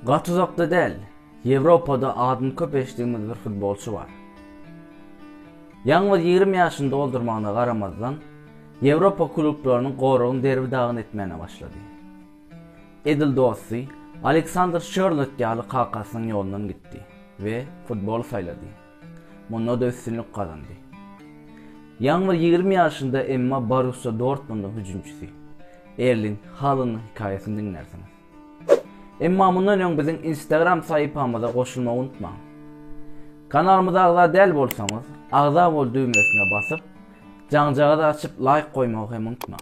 Gat uzakda däl. Ýewropada adyny köp eşitdigiňiz bir futbolçy bar. Ýalňyz 20 ýaşyny doldurmagyna garamazdan, Ýewropa klublarynyň goragyny derbi-dagyn etmäne başlady. Edil dosty Aleksandr Şörlot ýaly kakasynyň ýolundan gitdi we futboly saýlady. Munda-da üstünlik gazandy. Ýaňy bir ýigrimi ýaşynda, emma Borussiýa Dortmundyň hüjümçisi Erling Halanyň hekaýasyny diňlärsiňiz. Emma mundan öň biziň Instagram sahypamyza goşulmagy unutmaň. Kanalymyza agza däl bolsaňyz, agza bol düwmesine basyp, jaňjagazy açyp laýk goýmagy hem unutmaň.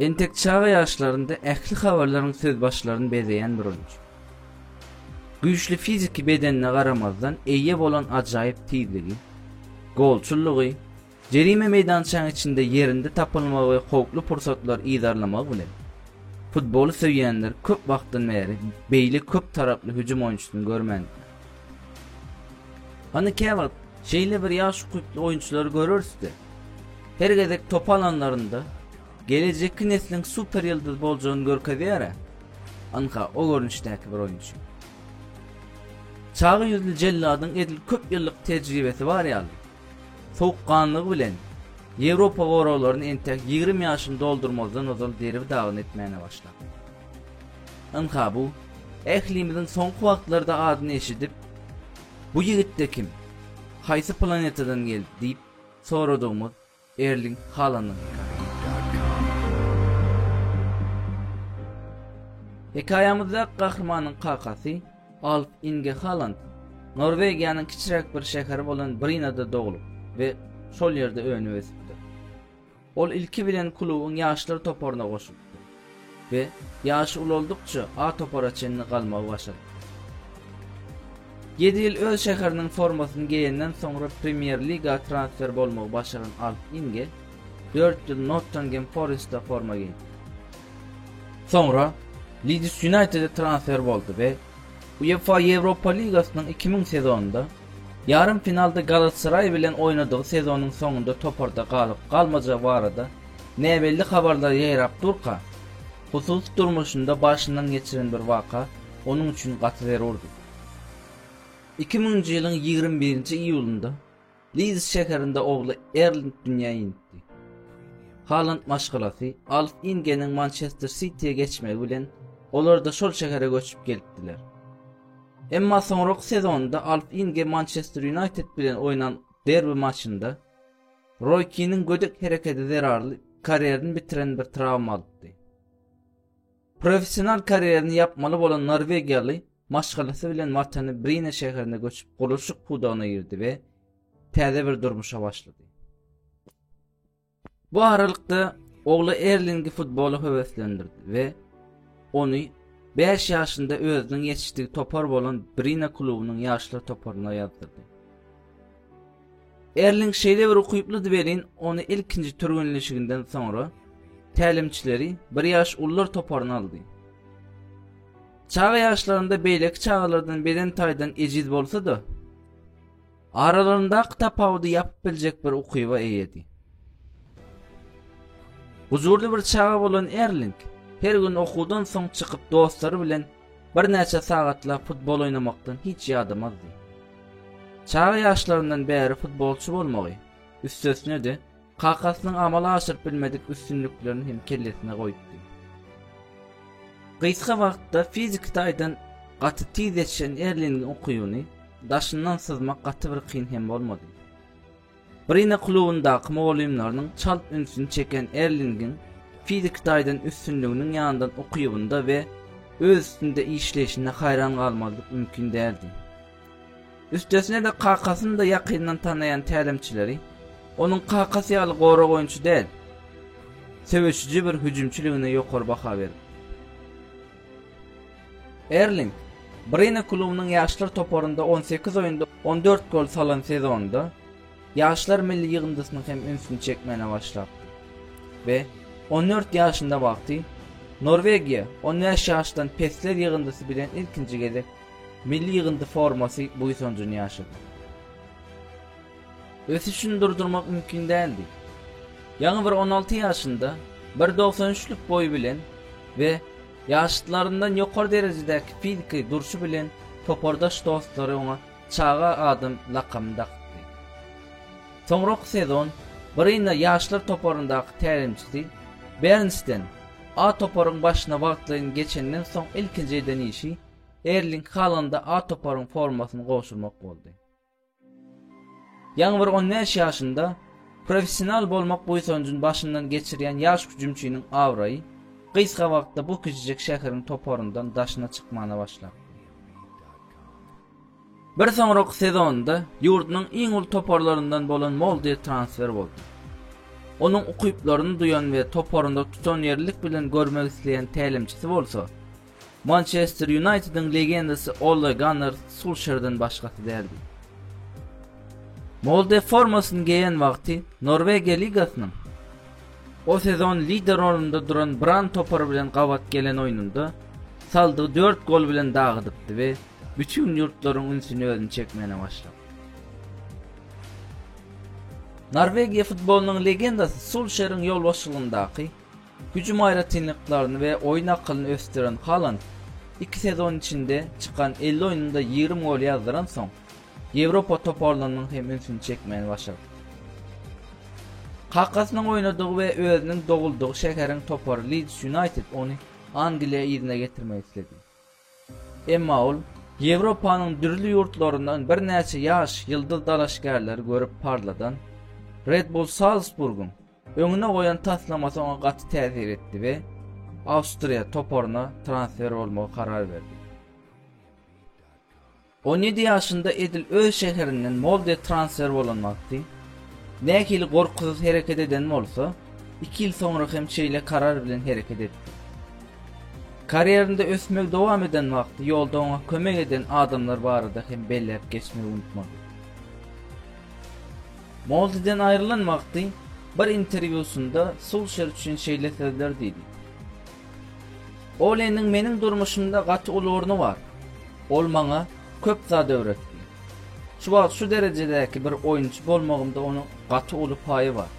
Entek çaga ýaşlarynda ähli habarlaryň söz başlaryny bezeýän bürünç. Güýçli fiziki bedenine garamazdan eýe bolan ajaýyp tizligi, golçullygy, jerime meýdançaň içinde ýerinde tapylmagy we howply pursatlary yzarlamagy bilen, futboly söýýänler köp wagtdan bäri beýle köp taraply hüjüm oýunçysyny görmändiler. Hany käwagt şeýle bir ýaş ukyply oýunçylary göreris-de, her gezek top alanlarynda gelejekki nesliň super ýyldyzy boljagyny görkezýär-ä, ynha, o görnüşdäki bir oýunçy. Çaga ýüzli jelladyň edil köp ýyllyk tejribesi bar ýaly, sowukganlygy bilen Ýewropa goraglaryny entek ýigrimi ýaşyny doldurmazdan ozal derbi-dagyn etmäne başlapdyr. Ynha bu, ählimiziň soňky wagtlarda adyny eşidip, Bu ýigit-de kim? Haýsy planetadan geldi? diýip soradygymyz Erling Halanyň. Hekaýamyzdaky gahrymanyň kakasy Alf Inge Haland Norwegiýanyň kiçiräk bir şäheri bolan Brinada doglup we şol ýerde önüp-ösüpdir. Ol ilki bilen klubuň ýaşlar toparyna goşulypdy we ýaşy ulaldykça A topara çenli galmagy başarypdy. Ýedi ýyl öz şäheriniň formasyny geýenden soňra Premýer-liga transfer bolmagy başaran Alp Inge dört ýyl Nottangem Forestde forma geýdi. Soňra Lidis Ýunaýtede transfer boldy we UEFA Ýewropa ligasynyň iki müň sezonynda ýarym finalda Galatasaraý bilen oýnadygy sezonyň soňunda toparda galyp-galmajagy barada näbelli habarlar ýaýrap durka, hususy durmuşynda başyndan geçiren bir waka onuň üçin gaty zerurdy. Iki müňünji ýylyň ýigrimi birinji iýulynda, Lids şäherinde ogly Erling dünýä indi. Haland maşgalasy Alf Ingeniň Mançester Sitiýa geçmegi bilen, olar-da şol şähere göçüp gelipdiler. Emma soňraky sezonda Alf Inge Mançester Ýunaýted bilen oýnan derbi maçynda Roý Kiniň gödek herekedi zerarly karýerini bitiren bir trawma alypdy. Professional karýerini ýapmaly bolan norwegiýaly maşgalasy bilen watany Brine şäherine göçüp, gurluşyk pudagyna girdi we täze bir durmuşa başlady. Bu aralykda ogly Erlingi futbola höweslendirdi we ony 5 ýaşynda özüniň ýetişdigi topar bolan Brina klubunyň ýaşlar toparyna ýazdyrdy. Erling şeýlebir ukyplydy welin, ony ilkinji türgenleşiginden soňra tälimçileri bir ýaş ulylar toparyna aldy. Çaga ýaşlarynda beýleki çagalardan beden taýdan ejiz bolsa-da, aralaryndaky tapawudy ýapyp biljek bir ukyba eýedi. Gujurly bir çaga bolan Erling her gün okuwdan soň çykyp dostlary bilen Birnäçe sagatlap futbol oýnamakdan hiç ýadamazdy. Çaga ýaşlaryndan bäri futbolçy bolmagy, üstesine-de, kakasynyň amala aşyryp bilmedik üstünliklerini hem kellesine goýupdy. Gysga wagtda fiziki taýdan gaty tiz ýetişen Erlingiň ukybyny daşyndan syzmak gaty bir kyn hem bolmady. Brina klubundaky mugallymlarynyň çalt ünsüni çeken Erlingiň fiziki taýdan üstünliginiň ýanyndan ukybynda we öz üstünde işleýşinde haýran galmazlyk mümkin däldi. Üstesine-de kakasyny-da ýakyndan tanaýan tälimçileri onuň kakasy ýaly gorag oýunçy däl, söweşiji bir hüjümçiligine ýokary baha beripdi. Erling, Brine klubunyň ýaşlar toparynda on sekiz oýunda on dört gol salan sezonda ýaşlar milli ýygyndysynyň hem ünsüni çekmäne başlapdy we on dört ýaşynda wagty Norwegiýa on bäş ýaşdan pesler ýygyndysy bilen ilkinji gezek milli ýygyndy formasy buýsanjyny ýaşady. Ösüşini durdurmak mümkin däldi. Ýaňy bir on alty ýaşynda, bir dogsan üçlük boýy bilen we ýaşlaryndan ýokary derejedäki fiziki durşy bilen topardaş dostlary oňa Çaga adam lakamyny dakypdy. Soňraky sezon Brynna ýaşlar toparyndaky tälimçisi Bernsten A toparyň başyna wagtlaýyn geçenden soň ilkinji eden işi Erling Halanda A toparyň formasyny gowşurmak boldy. Ýaňy bir on bäş ýaşynda professional bolmak buýsanjyny başyndan geçirýän ýaş hüjümçiniň abraýy gysga wagtda bu kiçijek şäheriň toparyndan daşyna çykmana başlar. Bir soňraky sezonynda ýurdunyň iň uly toparlaryndan bolan Molde transfer boldy. Onuň ukyplaryny duýan we toparynda tutanýerlilik bilen görmek isleýän tälimçisi bolsa, Mançester Ýunaýtediň legendasy Olle Gannar Sulşerden başgasy däldi. Molde formasyny geýen wagty Norwegiýa ligasynyň o sezon lider rolunda duran Bran topary bilen gabat gelen oýnunda saldy dört gol bilen dagydypdy we bütin ýurtlaryň ünsüni özüne çekmäne başlapdy. Norwegiýa futbolynyň legendasy Sulşeriň ýolbaşçylygyndaky Hüjüm aýratynlyklaryny we oýun akylyny ösdüren Haland iki sezon içinde çykan elli oýnunda ýigrimi gol ýazdyransoň, Ýewropa toparlarynyň hem ünsüni çekmäni başardy. Kakasynyň oýnadygy we özüniň doguldygy şäheriň topary Lids Ýunaýted ony Angliýa yzyna getirmek isledi. Emma ol Ýewropanyň dürli ýurtlaryndan birnäçe ýaş ýyldyz dalaşgärleri görüp parladan Red Bull Salzburgyň öňüne goýan taslamasy oňa gaty täsir etdi we Awstriýa toparyna transfer bolmagy karar berdi. On ýedi ýaşynda edil öz şäherinden Molde transfer bolan wagty, nähili gorkusyz hereket eden bolsa, iki ýyl soňra hem şeýle karar bilen hereket etdi. Karýerinde ösmegi dowam eden wagty ýolda oňa kömek eden adamlar barada hem belläp geçmegi unutmadyk. Moldeden aýrylan wagty bir interwýusynda Sulşer üçin şeýle sözler diýdi, Oleniň meniň durmuşymda gaty uly orny bar. Ol maňa köp zat öwretdi. Şu wagt şu derejedäki bir oýunçy bolmagymda onuň gaty uly paýy bar.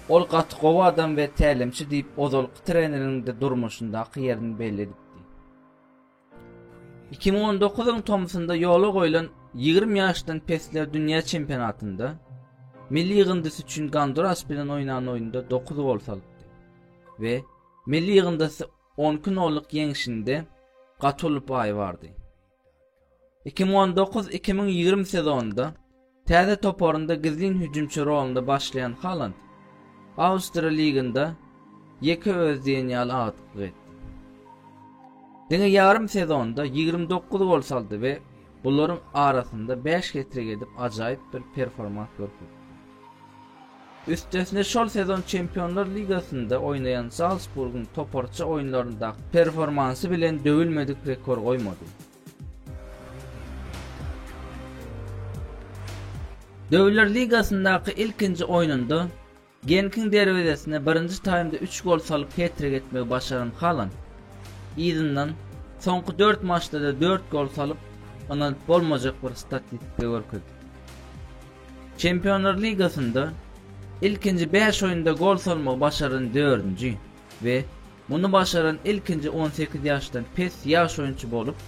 Ol gaty gowy adam we tälimçi diýip ozalky treneriň-de durmuşyndaky ýerini belli edipdi. Iki müň on dokuzyň tomsunda ýola goýlan ýigrimi ýaşdan pesler dünýä çempionatynda milli ýygyndysy üçin Gonduras bilen oýnan oýnunda dokuz gol salypdy we milli ýygyndysy on iki nollyk ýeňşinde gaty uly paýy bardy. Iki müň on dokuz-iki müň ýigrimi sezonynda Täze toparynda gizlin hüjümçi rolunda başlaýan Haland Awstriýa liginde ýeke özi diýen ýaly agdyklyk etdi. Diňe ýarym sezonda ýigrimi dokuz gol saldy we bularyň arasynda bäş hetrik edip ajaýyp bir performans görkezdi. Üstesine şol sezon Çempionlar ligasynda oýnaýan Zalsburgyň toparça oýunlaryndaky performansy bilen döwülmedik rekor goýmady. Döwürler ligasyndaky ilkinji oýnunda Genkiň derwezesine birinji taýmda üç gol salyp het-trik etmegi başaran Haland, yzyndan soňky dört maçda-da dört gol salyp, ynanyp bolmajak bir statistika görkezdi. Çempionlar ligasynda ilkinji bäş oýnda gol salmagy başaran dördünji we Muny başaran ilkinji on sekiz ýaşdan pes ýaş oýunçy bolup,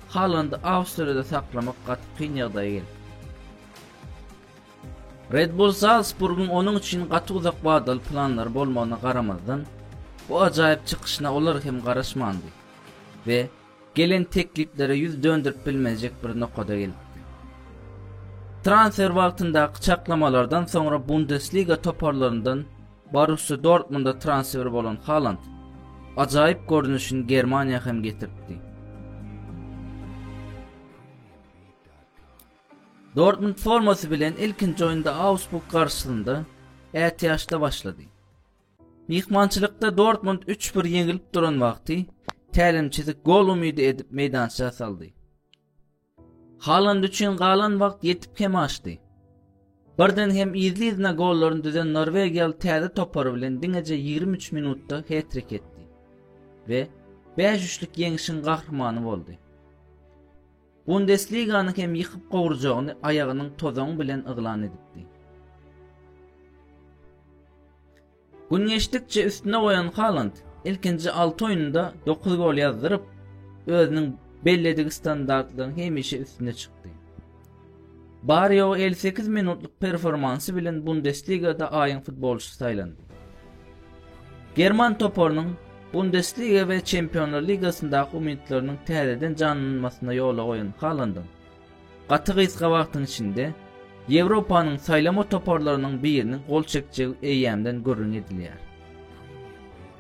Halandy Awstriýada saklamak gaty kyn ýagdaýa geldi. Red Bull Zalsburgyň onuň üçin gaty uzak wadaly planlary bolmagyna garamazdan, bu ajaýyp çykyşyna olar hem garaşmandy we Gelen tekliplere ýüz dönderip bilmejek bir nokada gelipdi. Transfer wagtyndaky çaklamalardan soňra Bundesliga toparlaryndan Borussiýa Dortmunda transfer bolan Haland ajaýyp görnüşini Germaniýa hem getiripdi. Dortmund formasy bilen ilkinji oýunda Augsburg garşysynda ätiýaçda başlady. Myhmançylykda Dortmund üç bir ýeňilip duran wagty tälimçisi gol umydy edip meýdança saldy. Haland üçin galan wagt ýetip hem açdy. Birden hem yzly-yzyna gollaryny düzen norwegiýaly täze topary bilen diňeje 23 minutda hetrik etdi we 5 üçlük ýeňişiň gahrymany boldy. Bundesligany hem ýykyp gowurjagyny aýagynyň tozaňy bilen yglan edipdi. Gün geçdikçe üstüne goýan Haland ilkinji alty oýnunda dokuz gol ýazdyryp, özüniň belledigi standartlaryň hemişe üstüne çykdy. Bary-ýogy elli sekiz minutlyk performansy bilen Bundesligada aýyň futbolçysy saýlandy. German toparynyň Bundesliga we Çempionlar ligasyndaky umytlarynyň täzeden janlanmasyna ýola goýan Halandyň gaty gysga wagtyň içinde Ýewropanyň saýlama toparlarynyň biriniň gol çekjegi eýýämden gürrüň edilýär.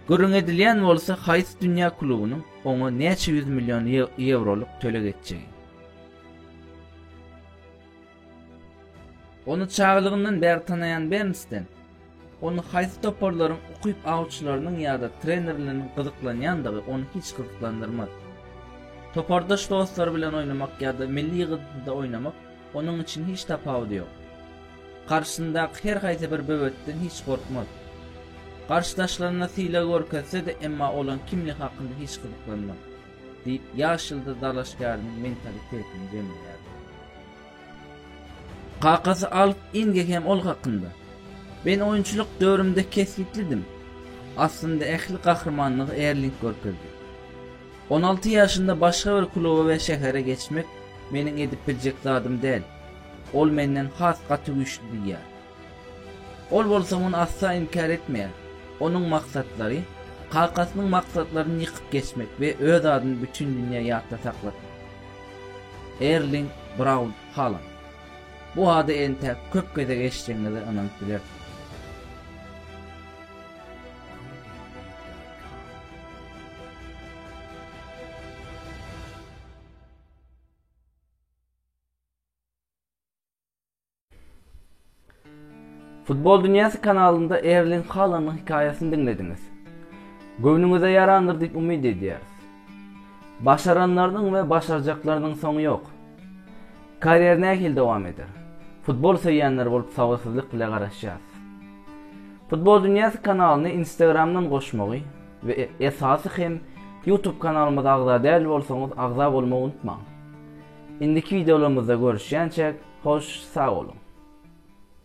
Gürrüň edilýän bolsa haýsy dünýä klubunyň oňa näçe ýüz million ýewrolyk töleg etjegi. Ony çagalygyndan bäri tanaýan Bernsten, ony haýsy toparlaryň ukyp awçylarynyň ýa-da trenerleriniň gyzyklanýandygy ony hiç gyzyklandyrmaz. Topardaş dostlary bilen oýnamak ýa-da milli ýygyndyda oýnamak onuň üçin hiç tapawudy ýok. Garşysyndaky her haýsy bir böwetden hiç gorkmaz. Garşydaşlaryna sylag görkezse-de, emma olaň kimligi hakynda hiç gyzyklanmaz. diýip, ýaş ýyldyz dalaşgäriniň mentalitetini jemleýärdi. Kakasy Alf Inge hem ol hakynda, Men oýunçylyk döwrümde kesgitlidim. Aslynda ähli gahrymanlygy Erling görkezdi. On alty ýaşynda başga bir kluba we şähere geçmek meniň edip biljek zadym däl. Ol menden has gaty güýçli diýýär. Ol bolsa muny asla inkär etmeýär. Onuň maksatlary, kakasynyň maksatlaryny ýykyp geçmek we öz adyny bütin dünýä ýatda saklatmak. Erling Braun Haland. Bu ady entäk köp gezek eşidenňize ynanyp bilersiňiz. Futbol dünýäsi kanalynda Erling Halanyň hekaýasyny diňlediňiz. Göwnüňize ýarandyr diýip umyt edýäris. Başaranlarynyň we başarjaklarynyň soňy ýok. Karýer nähili dowam eder? Futbol söýýänler bolup sabyrsyzlyk bile garaşýas. Futbol dünýäsi kanalyny Instagramdan goşmagy we esasy hem YouTube kanalymyza agza däl bolsaňyz agza bolmagy unutmaň. Indiki wideolarymyzda görüşýänçäk hoş sag boluň.